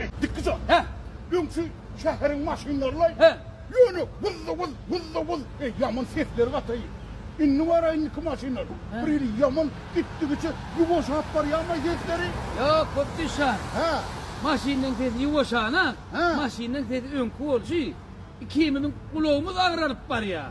Etdikki jan. Hä. Öňki şäheriň maşynlarylaý. Hä. Ýöne wuz-wuz, wuz-wuz, eý, ýaman sesleri gataýy. Indi bara indiki maşynlar. Hä. Bir hili ýaman gitdigiçe ýuwaşap barýarmaý sesleri? Ýok, Gopdüş jan. Hä. Maşynlaryň sesi ýuwaşana, Hä. maşynlaryň sesi öňki bolşy, ikimiziň gulagymyz agyralyp barýar.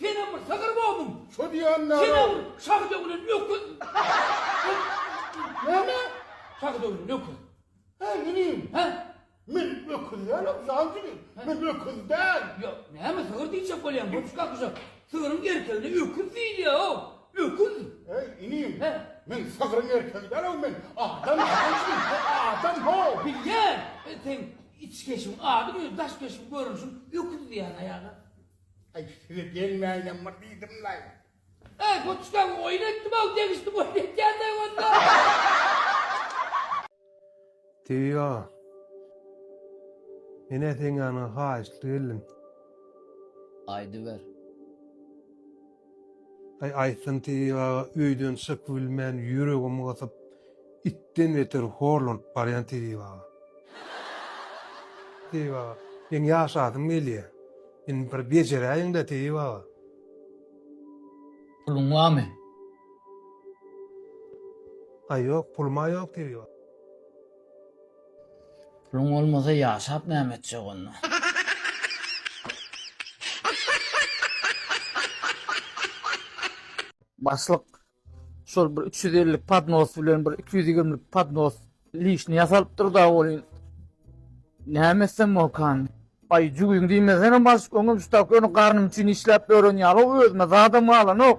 Senem bir sygyr bolduň. Şo diýýän näme? Senem bir şahy döwlen öküz. Näme? Şahy döwlen öküz. Heý, inim. Hä? Men öküz dälem, jan jigim. Men öküz däl. Ýok, näme sygyr diýjek bolýaň, goç kakyja. Sygryň erkegine öküz diýilýär-ow. Öküz. Heý, inim. Hä? Men sygryň erkegi däl-ow men. Adam, jan jigim, men adam-how. Bilýän. Seň içkeşigiň adyň özi daş-keşiň görnüşiň öküz diýýän aýala. Aý size gelmäýinem bir diýdimlaý. Äý poçtam oýun etdim-ow degişdim oýun etýändeý onda. Tebigy aga. Men äteňňäniň haýyştly geldim. Aýdyber. Aý aýtsyn Tebigy aga öýden çykybilmän ýüregimi gysyp itden beter horlanyp barýan Tebigy aga. Tebigy aga meň ýaşasym gelýä indi bir bejeräýiňdä Tebigy aga. Puluň barmy? Aý ýok puluma ýok Tebigy aga. Puluň bolmasa ýaşap näme etjek onda. Başlyk şol bir 350 lik podnos bilen bir 220 lik podnos lişni ýasalypdyr da bolýan. Näme etsem bolkan? Ay jügüň diýmesene başlyk öňem şu tak öňe garnym üçin işläp ören ýaly özüme zadam galanok.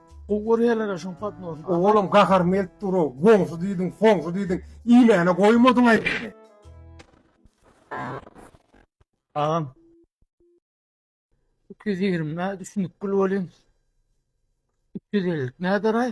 Gowy görýärler şoň podnosy. Oglum gahar melt duro, goňsy diýdiň, soňsy diýdiň, iýmäne goýmadyň aý. Agam. 220 nä düşünip gül bolyň. 250 näder aý.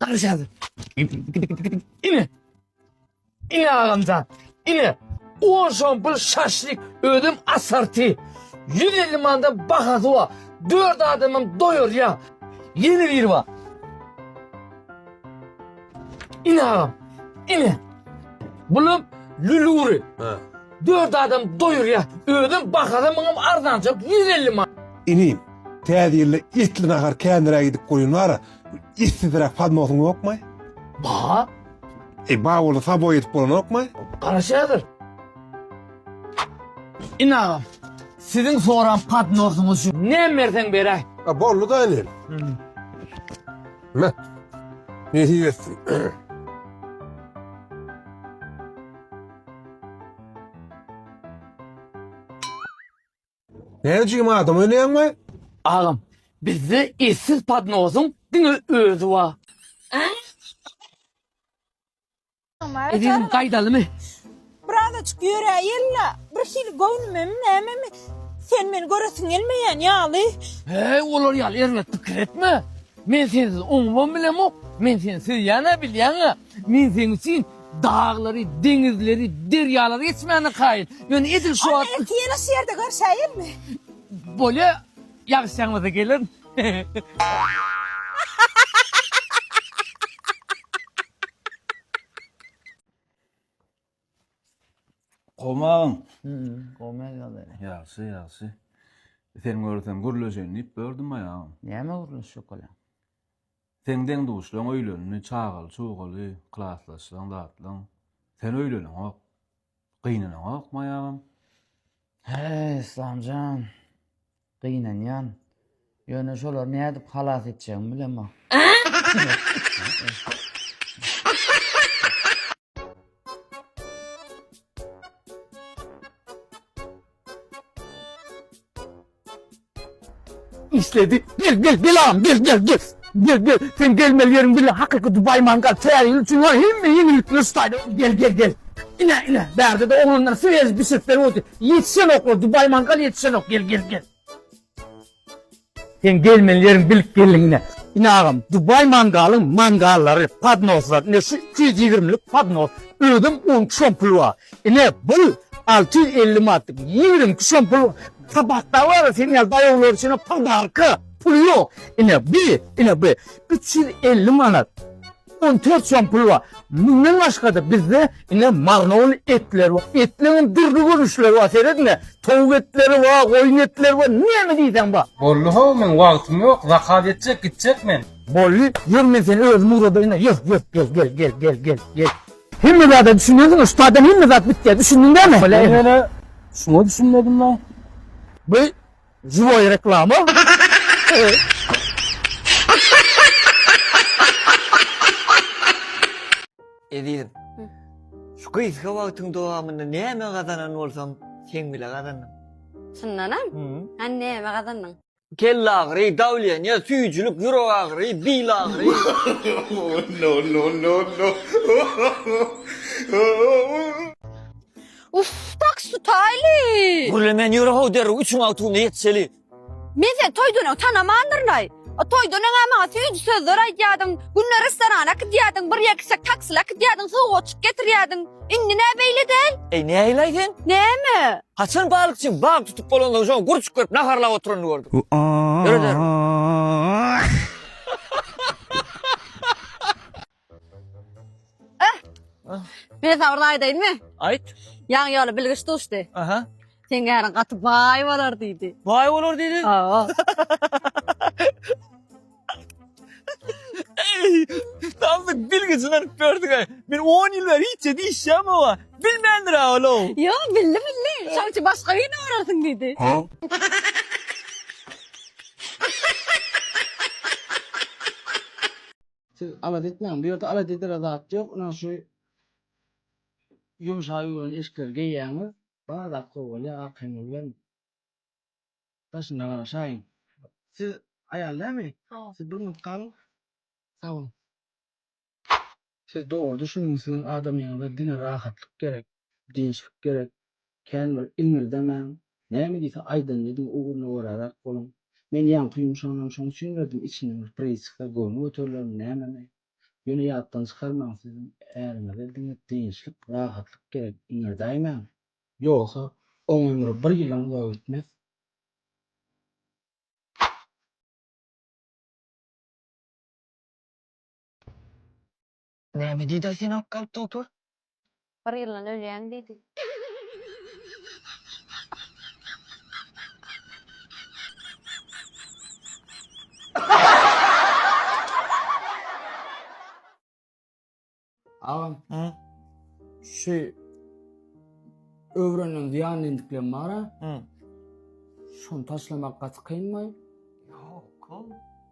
Garşy ýazdy. Ine. Ine agamjan. Ine. On şon bir şaşlik özüm asarti. 150 mandan bahasy wa. Dört adamım doyur ya. Yeni bir wa. Ine agam. Ine. Bulum lüluri. Ha. Dört adam doyur ya. Özüm bahasy mıngım arzancak 150 man. Inim, täze ýylda etli nahar kändiräk edip goýun wara. Issizräk padnosyň ýokmy? Bar. E, bar bolsa saboý edip bolanokmy? Garaş häzir. Ine agam, siziň soran padnosyňyz şu. Näme berseň beräý. A, boldy-da inen. Me. Nesip etsin. Ne jim adam öneýäňmi? Agam, bizde eşsiz podnozyň diňe özi bar. Ezizim gaýdalymy? Birazajyk ýöräýeli-la, birhili göwnümemi nämemi sen meni göresiň gelmeýän ýaly. Heý, olar ýaly erbet pikir etme. Men sensiz oňubam bilemok. Men seni söýýän-ä, bilýäň-ä. Men seň üçin daglary, deňizleri, derýalary geçmäne kaýyl. Ýöne edil şu wagt... Onda iki ýyla şu ýerde görşäýelmi? Bolýa, ýagşy ýagmasa gelerin. Gomagyň. Gomagy ýaly. Ýagşy, ýagşy. Seni görsem gürleşeýin diýip gördüm aýagym. Näme gürleşjek olam? Seň deň-duşlaň öýlendi, çagaly-çugaly, klasdaşlaň, zatlaň. Sen öýleneňok. Gynynaňokmy aýagym? Hä, Yslam jan. Gynanýan. Ýöne şolary nädip halas etjegimi bilemok. işledi. Gel gel gel ağam gel gel gel. Gel gel sen gelmeli yerin bile hakiki Dubai mangal teyarıyla için var hem mi yenilikler stayda gel gel gel. İne ine berde de oğlanlar söz bir sesler oldu. Yetişen okla Dubai mangal yetişen ok gel gel gel. Seň gelmeli ýeriň bilip geldiň ine. Ine agam Dubai mangalyň mangallary, podnoslar, ine şu iki ýüz ýigrimi lik podnos, özem on iki som puly bar. Ine bul alty ýüz elli manatlyk, ýigrimi iki som puly bar. Kabakda bar seň ýaly daýawlar üçin podarka, puly ýok. Ine bu, ine bu üç ýüz elli manat. On dört soň pul bar. Mundan başga-da bizde ine marnoly etler bar. Etleriň dürli görnüşleri bar. Seret ine, towuk etleri bar, goýun etleri bar, näme diýseň bar. Boldy how, meň wagtym ýok, zakaz etjek, gitjek men. Boldy, ýör men seni özüm ugradaýyn-a, ýör, ýör, gel, gel, gel, gel, gel, gel. Hemme zada düşünýänsiň-a, şu taýdan hemme zat bitýär, düşündiň dämi? Bolýa, indi. Men ýene şuňa düşünmedim-la. Bu Juwaý reklama. Ezizim. Şu gysga wagtyň dowamynda näme gazanan bolsaň, seň bile gazandyň. Çyndanam? Hany näme gazandyň? Kelle agyry, dawleniýa, süýjülik, ýürek agyry, bil agyry. No no no no. Uff, tak sutaýly. Gürle men ýöre how derrew üçüň awtugyna ýetişeli. Men seni toýdan öň tanamandyryn-aý. O toýdan öň-ä maňa süýji sözler aýdýardyň, günde restorana gidýärdiň, bir ýer gitsek taksile gidýärdiň, sowgatjyk getirýärdiň. Indi nä beýle däl? Eý, nähili-aý sen? Näme? Haçan balykçyň balyk tutup bolandan soň gurçuk berip naharlap oturanyny gördüň? Ýöre derrew. Men sana bir aýdaýynmy? Aýt. Ýaňy ýola bilgiç duşdy. Aha. Seň äriň gaty baý bolar diýdi. Baý bolar diýdi? Hawa. Eý, tam bir bilgijini alyp berdiň-ä. Men on ýyl bäri hiç zat işlämok oňa. Bilmändir-ä ol-ow. Ýok, bildi, bildi. Şoň üçin başga birini görersiň diýdi. Siz alada etmäň, bu ýerde alada edere zat ýok, ynha şu ýumşak ýüwrän eşikleri geýýäňiz, bar zat gowy bolýar, arkaýyňda bilen daşynda garaşaýyň. Siz aýal dälmi? Hawa. Siz bir minut galyň. Sag boluň. Siz dogry düşüniň, siziň adamyňyza diňe rahatlyk gerek, dynçlyk gerek, Kän bir iňňildemäň, näme diýse aýdandynyň ugruna göräräk boluň. Men ýaňky ýumşagnam şoň üçin berdim, içinden bir priçka, göwni göterilermi, nämemi? Ýöne ýatdan çykarmaň, siziň äriňize diňe dynçlyk, rahatlyk gerek, iňňirdäýmäň. Ýogsa, oň ömri bir ýylam uzaga gitmez. Näme diýdi-aý seni alyp galyp dogtor? Bir ýyldan ölýäň diýdi. Agam. Hä? Şu öwrenilen zyýanly endiklerim bar-a. Hä. Şony taşlamak gaty kynmy? Ýok.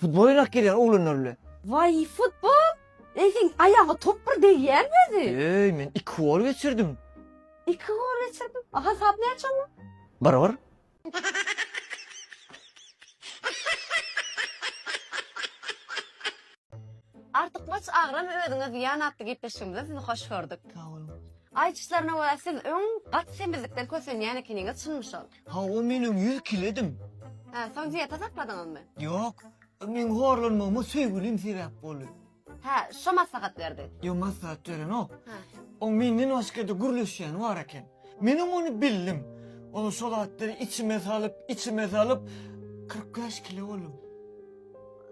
Futbol oýnak gelýär oglanlar bilen. Waý futbol! Eýgiň aýaga top bir degýärmi özi? Öý men iki gol geçirdim. Iki gol geçirdim? A hasap näçe onda? Bir bir. Artykmaç agram özüňe zyýan atly gepleşigimize sizi hoş gördük. Sag boluň. Aýdyşlaryna görä siz öň gaty semizlikden kösenýän ekeniňiz şunmy şol? Hawa, men öň ýüz kiledim. Hä, soň dieta sakladyňyzmy? Ýok, meň horlanmagyma söýgülim sebäp boldy. Hä, şo maslahat berdi. Ýok, maslahat berenok. Hä. Oň menden başga-da gürleşýäni bar eken. Menem ony bildim. Ol şo zatlary içime salyp, içime salyp, kyrk bäş kile boldum.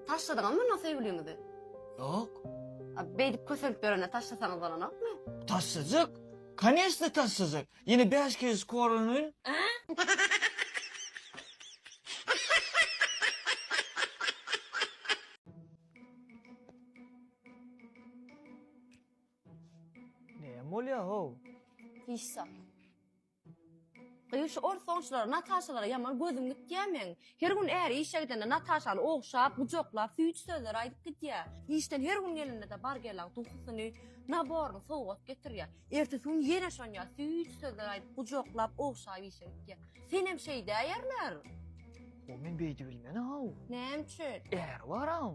Taşladyňyzmy onda söýgüliňizi? Ýok. A, Beýdip kösenip ýörende taşlasaňyz bolanokmy? Taşlajak. Koneçne taşlajak. Ýene bäş kişi skoronyň. Näme bolýar how? Hiç zat. Gyz şu ors sonçulara, Nataşalara ýaman gözüm gitýä meň. Her gün äri işe gidende Nataşany ogşap, gujaklap, süýji sözler aýdyp gidýär. Işden her gün gelende-de Bargelaň duhusyny, naboryny sowgat getirýär. Ertesi gün ýene şon ýaly süýji sözler aýdyp, gujaklap, ogşap işe gidýär. Senem şeýdäýerler. Ho, men beýdi bilmen-aw. Näme üçin? Äri bar-aw.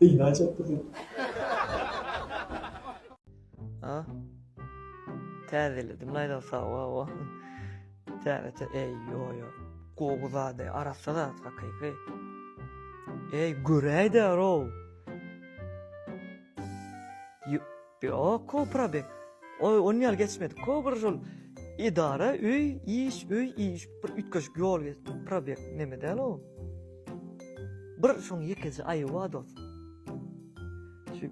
Gynaýjak bizi. A. Täzeledim laýda sawa o. Täze eý ýoýo. Gowy zady arassa zat hakyky. Eý göräýdä row. Ýok ko probe oý on ýaly geçmedik ko bir şol edara öý iş öý iş bir üýtgeşik ýol geçdik probe neme däl o bir şoň ýekeje aýy bar dos şu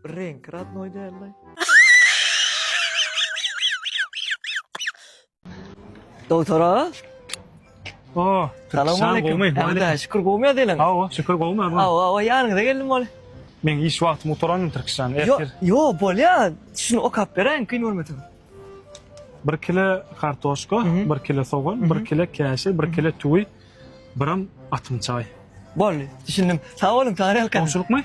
reňki radnoý dällaý. Dogtora. O, salam aleyküm. Hemde şükür gowmy diýlen? Awa, şükür gowmy awa. Awa, awa, ýanyňyza geldim ol. Men iş wagtym gutaranmy Türkistan? Yo, yo, bolýar. Şuny okap beräýiň, kyn bolmasyn. 1 kilo kartoşka, 1 kilo sogan, 1 kilo käşir, 1 kilo tüwi, biram atym çaý. Boldy, düşündim. Sag boluň, saňa ne alkan? Onçulukmy?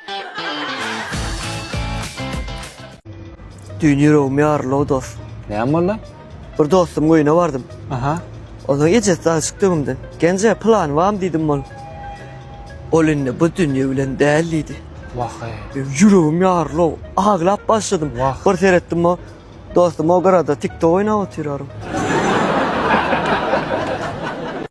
Düýn ýüregim ýaryl-ow dos. Näme boldy? Bir dostumyň öýüne bardym. Aha. Onuň ejesi dagyşyk döwündi. Genje, pylany barmy diýdim ol. Ol indi bu dünýe bilen däl diýdi. Wah-eý. Ýüregim ýaryl-ow. Aglap başladym. Wah. Bir seretdim o dostum o gyrada tiktok oýnap otyr aryn.